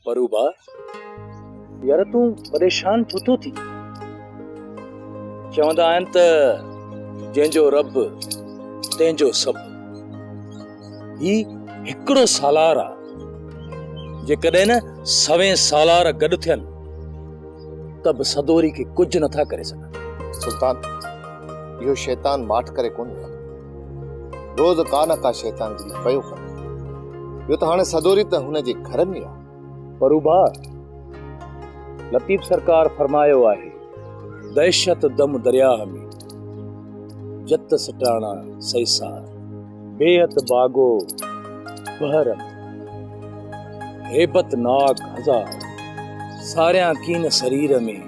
پروڀا، يار تون پريشان ڇو ٿو ٿين؟ چوندا آهن ته جنهن جو رب تنهن جو سڀ. هي هڪڙو سالار آ. جيڪڏهن نه سوين سالار گڏ ٿين ته به سدوري کي ڪجهه نٿا ڪري سگهن. سلطان، اهو شيطان ماٺ ڪري ڪونه ويندو. روز ڪا نه ڪا شيطان جلد پيو ڪري ٻيو ته هاڻي سدوري ته هن جي گهر ۾ آهي پروڀاء لطيف سرڪار فرمايو آهي دهشت دم درياهه ۾ جت سٽاڻا سيسار بيعت باغو بحر ۾ هيبت ناڪ هزار ساريان ڪين سرير ۾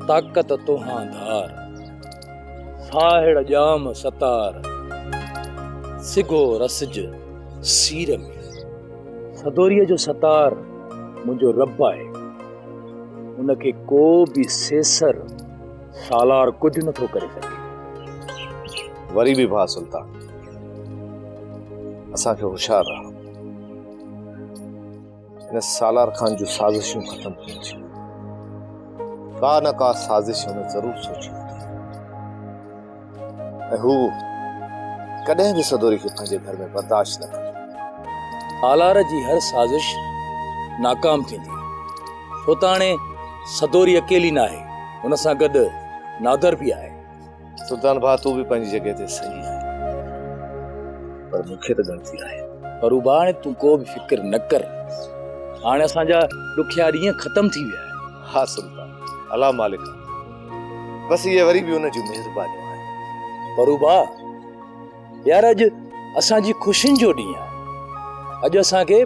طاقت توهان ڌار ساهڙ ڄام ستار، سگهو رسج سير ۾. سدوريء جو ستار منهنجو رب آهي، ان کي ڪو به سيسر سالار ڪجهه نه ٿو ڪري سگهي. وري به ڀاء سلطان، اسان کي هوشيار رهڻو. ان سالار خان جون سازشون ختم ٿيون ڇي ڪا نه ڪا سازش هن ضرور سوچي ۽ هو ڪڏهن به سدوري کي پنهنجي گهر ۾ برداشت نه ڪندو سالار جي هر سازش ناڪام ٿيندي ڇو ته هاڻي سدوري اڪيلي نه آهي هن سان گڏ نادر به آهي سلطان ڀاء تون به پنهنجي جڳهه تي صحيح آهين پر مون کي ته ڳڻتي آهي. پروڀاڻ تون ڪو به فڪر نه ڪر هاڻي اسان جا ڏکيا ڏينهن ختم ٿي ويا آهن. ها سلطان الله مالڪ آهي بس اهي وري به ان جون مهربانيون آهن. پروڀاء يار اڄ اسان جي خوشين جو ڏينهن آهي اڄ اسان کي.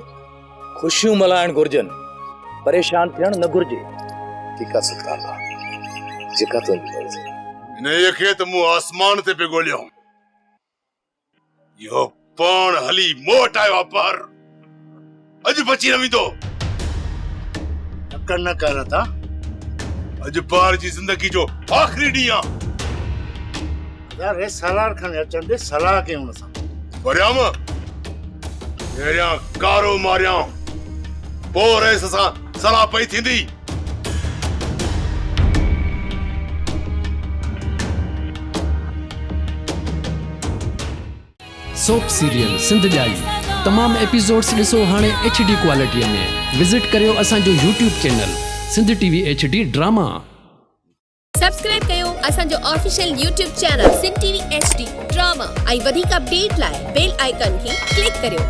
خوشيون ملهائڻ گهرجن پريشان ٿيڻ نه گهرجي ٺيڪ آ صدقه الله جيڪا تنهنجي مرضي. انهيء کي ته مون آسمان تي پئي ڳوليو هوم اهو پاڻ هلي مون وٽ آيو آ پر اڄ بچي نه ويندو. تڪڙ نه ڪر رتا اڄ پار جي زندگي جو آخري ڏينهن آ. يار هي سالار کڻي اچڻ ڏي صلاح ڪيون هن سان. وريام پهريان ڪارو ماريان پوء رئيس سان صلاح پئي ٿيندي. سوپ سيريل سنڌ ڄائي تمام ايپيسوڊس ڏسو هاڻي ايڇ ڊي ڪوالٽيء ۾ وزٽ ڪريو اسان جو YouTube channel Sindh T V H D drama. Subscribe ڪيو اسان جو official YouTube channel Sindh T V H D drama ۽ وڌيڪ اپڊيٽ لاء بيل آئيڪان کي ڪلڪ ڪريو.